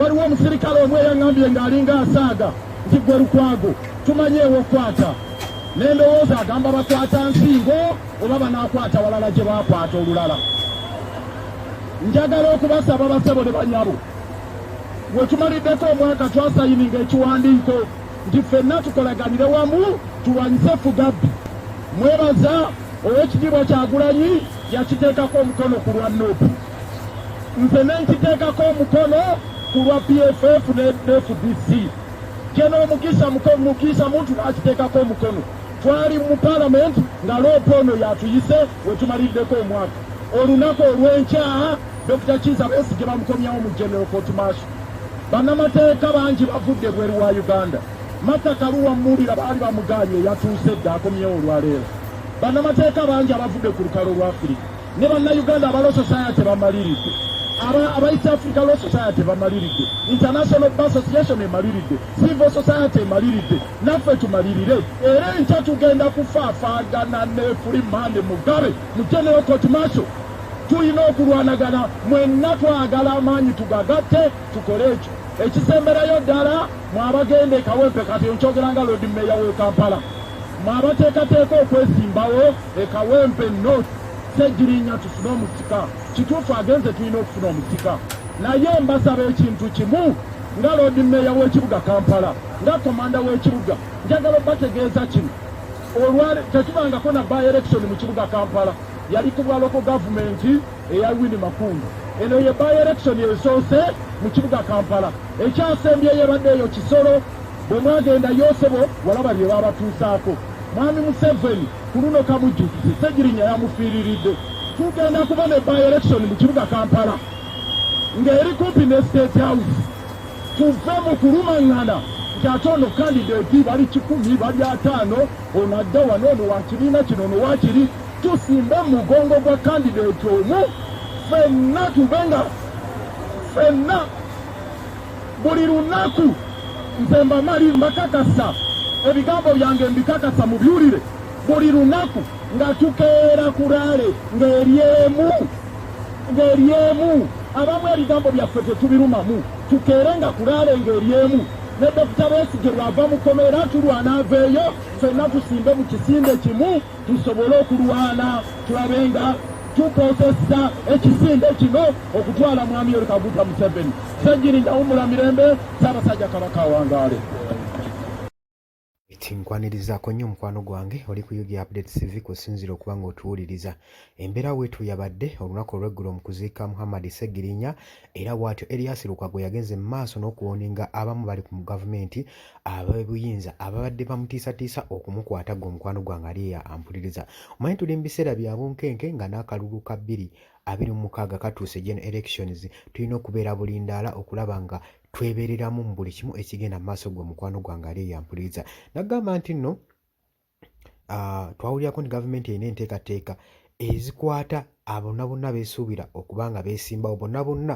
Waliwo omusirikale omu eyaŋambye ng'alinga asaaga nti gwe Lukwago tumanyi ewokwata ne ndowooza agamba bakwata nsingo oba banaakwata walala gye bakwata olulala. Njagala okubasaba basebo ne banyabo, we tumaliddeko omwaka twasayininga ekiwandiiko nti ffenna tukolaganire wamu tulwanyise Fugabbi. Mwebaza ow'ekitiibwa Kyagulanyi yakiteekako omukono ku lwa nup. nze nenkiteekako omukono ku lwa pff ne fdc kyeno omukisa mukisa muntu nakiteekako omukono twali mu palamenti nga loopa ono yatuyise wetumaliddeko omwaka olunaku olwenkya dokita kiza besigye bamukomyawo mu general court maaso banamateeka bangi bavudde bweru wa uganda mata kaluwa muwulira baali bamuganye yatuuse dda akomyewo olwaleero banamateeka bangi abavudde ku lukalo lwa afirika ne bannayuganda aba law society bamaliridde aba east africa law society bamaliridde international ba association emaliridde civil society emaliridde naffe tumalirire era enkya tugenda kufaafagana ne free mande mugabe mu general court macho tulina okulwanagana mwenna twagala amaanyi tugagatte tukole ekyo ekisemberayo ddala mwabagenda ekawempe kati nkyogera nga lodi meeya w'e kampala mwabateekateeka okwesimbawo E Kawempe North Ssegirinya tusime omusika. Kituufu agenze tulina okufuna omusika. Naye mbasaba ekintu kimu nga Loodi Meeya w'ekibuga Kampala nga komanda w'ekibuga njagala obategeeza kino olwale tetubangako na by election mu kibuga Kampala yali ku bwa loko gavumenti eya Winnie Makungu eno ye by election esoose mu kibuga Kampala ekyasembyeyo ebadde eyo Kisoro Bwe mwagenda Yosebo walaba bye baabatuusaako. Mwami Museveni ku luno kamujjukize Ssegirinya yamufiiriridde. Tugenda kuba ne by election mu kibuga Kampala ng'eri kumpi ne State House. Tuve mu kulumang'ana nti ate ono kandideti bali kikumi bali ataano ono adda wano ono wa kibiina kino ono wakiri tusimbe mu mugongo gwa kandideti omu fenna tube nga fenna buli lunaku nze mbamali mbakakasa ebigambo byange mbikakasa mubyulire buli lunaku nga tukeera kuraale ng'eryemu ng'eryemu abamu ebigambo byaffe tetubirumamu tukeere nga kuraale ng'eryemu ne dokita besigye lwava mukomera tulwana aveeyo fenna tusimbe mu kisinde kimu tusobole okulwana tulabe nga Tukozesa ekisinde kino okutwala Mwami Yoweri Kaguta Museveni. Ssegirinya wumula mirembe, Ssaabasajja Kabaka awangaale. Eti nkwanirizaako nnyo mukwano gwange oli ku UG Update TV kusinziira okuba ng'otuwuliriza. Embeera weetu yabadde olunaku olw'eggulo mu kuziika Muhammad Ssegirinya era bwatyo Erias Lukwago yagenze mu maaso n'okuwoninga abamu bali ku gavumenti ab'ebuyinza ababadde bamutiisatiisa okumukwata gwe omukwano gwange ali eya ampuliriza omanyi tuli mu biseera bya bunkenke nga n'akalulu ka bbiri abiri mu mukaaga katuuse gen elections tulina okubeera bulindaala okulaba nga twebereramu mu buli kimu ekigenda mu maaso gwe omukwano gwange ali eya ampuliriza nagamba nti nno twawulirako nti gavumenti erina enteekateeka ezikwata abonna bonna beesuubira okuba nga beesimbawo bonna bonna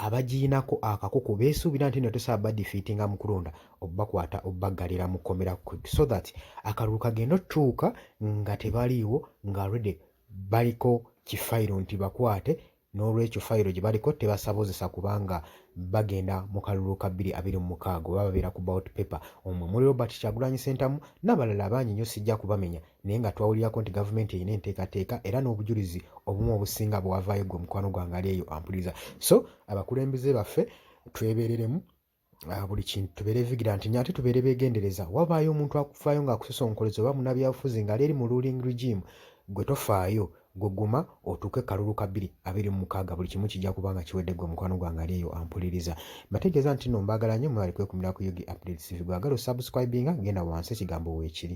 abagiyinako akakuku beesuubira nti no tosobola badifiitinga mu kulonda okubakwata okubaggalira mu kkomera quick so that akalulu kagenda otutuuka nga tebaliiwo nga already baliko kifayiro nti bakwate n'olwekyo fayiro gye baliko tebasabozesa kubanga bagenda mu kalulu ka bbiri abiri mu mukaaga oba babeera ku bout paper omwo muli robert kyagulanyi sentamu n'abalala abangi nnyo sijja kubamenya naye nga twawulirako nti gavumenti erina enteekateeka era n'obujulizi obumu obusinga bwewavaayo gwe omukwano gwange ali eyo ampuliriza so abakulembeze baffe twebereremu Ah, buli kintu tubeere vigilanti nyo ate tubeere begendereza wabaayo omuntu akufaayo ngaakusosonkoleza oba munabyabufuzi ngaali eri mu ruling regime gwe tofaayo gweguma otuuke kalulu ka bbiri abiri mu mukaaga buli kimu kijja kuba nga kiwedde gwe mukwano gwange ali eyo ampuliriza mbategeeza nti no mbaagala nyo mwebale kwekumira ku ug updates gwagala osubscribinga genda wansi ekigambo weekiri